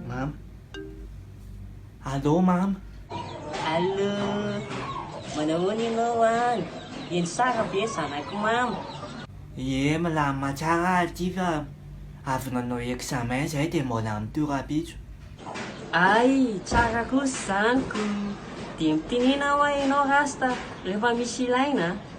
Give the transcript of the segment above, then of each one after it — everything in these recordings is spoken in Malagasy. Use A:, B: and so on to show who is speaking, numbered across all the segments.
A: Mama. Allô mama. Allô.
B: Manahoana ianao any? Eny sara ve zanako mama? Ie
A: milamina tsara ary ity fa avy nanao examen izay dia mbola mitohy rahampitso. Hay
B: tsara kosa izany ko. Dia mitenena hoa ianao Rasta rehefa misy ilaina a.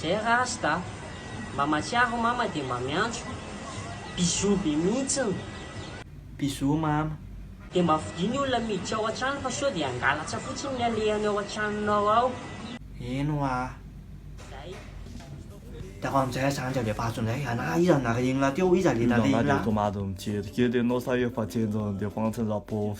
A: Zay
B: rasta a! Mba matsiaro mama dia mba miantso bisous be mihitsiny. Bisous
A: mama. Dia mba fidio
B: ny olona miditra ao an-trano fa sao dia hangalatra fotsiny ny alehany ao an-tranonao ao. Eny hoa
A: a! Dia fa amin'izay aza andry alefaso indray. Ana iza no nareninao teo? Iza le nareninao? Iza anà dia tomady mijery
C: kely ianao sa efa jenjan'ny defansiny Raposo?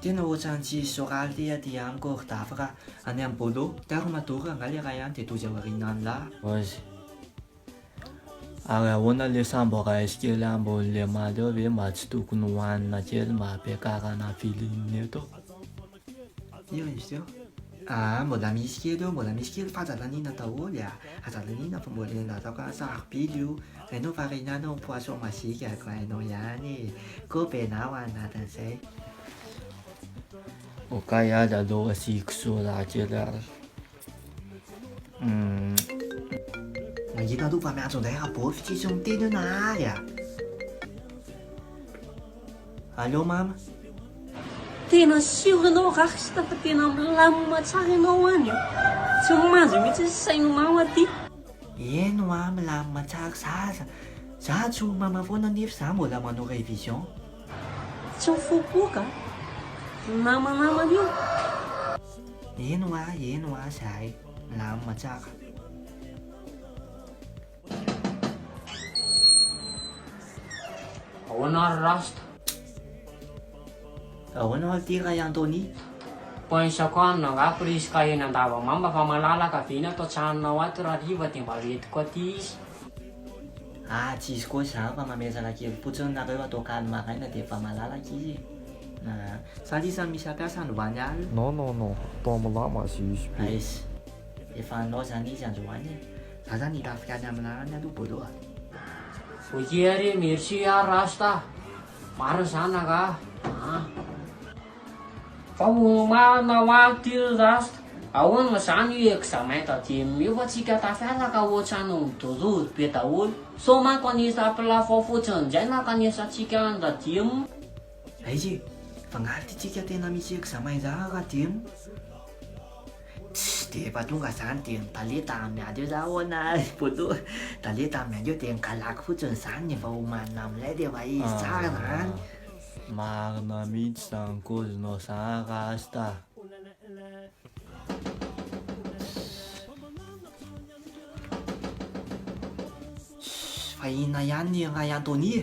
B: Tena
A: ohatran tsy soraly ty aty amiko ry dafy ra any am bolo taro madoro angaha le ray any de dozy ao arina any lah. Ozy.
C: Ary ahoana le sambo rice kely ambony lemaly eo ve mba tsy tokony ho hanina kely mba hampiakarana feeling eto.
A: Iry izy teo. Aa mbola misy kely eo mbola misy kely fa aza laniana daholo e aza laniana fa mbola enga ataoko sarobidy io. Enao fa renanao ny poisson magique a ko enao ihany e! Ko be nao any anatin'izay.
C: Okay aza aloha asiako soda kely ary.
A: Mahita aloha fa miantso indray Rabôfy tsisy miteny eo Nahary a! Allô mama?
B: Tena sûr ianao Rasta fa tena milamina tsara ianao any a! Tsy manjo mihitsy sain'i mama ty! Eny hoa
A: milamin matsary zaza. Za tsy ho mama foana nef za mbola manao revision.
B: Tsy mifopoka a! Ny mama namana io. Eny hoa
A: eny hoa zahay milamina tsara.
B: Ahoana ary rasta.
A: Ahoana hoy ity Ray Anthony? Points isako
B: any no angaha prise ka eny Andavamamba fa malalaka be ny ato an-tranonao ato raha riva dia mba lentiko aty izy. Aah
A: tsy izy koa izany fa mamezana kely fotsiny nareo atao kany maraina dia efa malalaka izy e. Aah. Sa lisany misy hampiasa any hoany alina? Non non non atao
C: amla mazy izy be. Aiz.
A: Efa anao izany izy androany e. Za zany hitafika any amla any aloha bolo a. Ok
B: ary e, merci ary Rasta a. Marina zany angaha an. Fa omaina ho any ty ry rasta. Ahoana zany io examen taty amy io fa tsika tafiala ka ohatrany midorodo be daholo. Sao manko anisa am-pilafo ao fotsiny ndray ny ankanesantsika any taty amy. Aiza e?
A: Fa ngaha ty tsika tena misy examen zany raha taty amy? Tsy dia efa tonga zany dia ny talenta miady eo za ahoana ry poto a, talenta miady eo dia ny galako fotsiny zany ny efa omanina amin'ilay dia efa izy tsara zany. Marina
C: mihitsy zany kozinao zany rasta a.
A: Fa inona ihany i Ray Anthony e?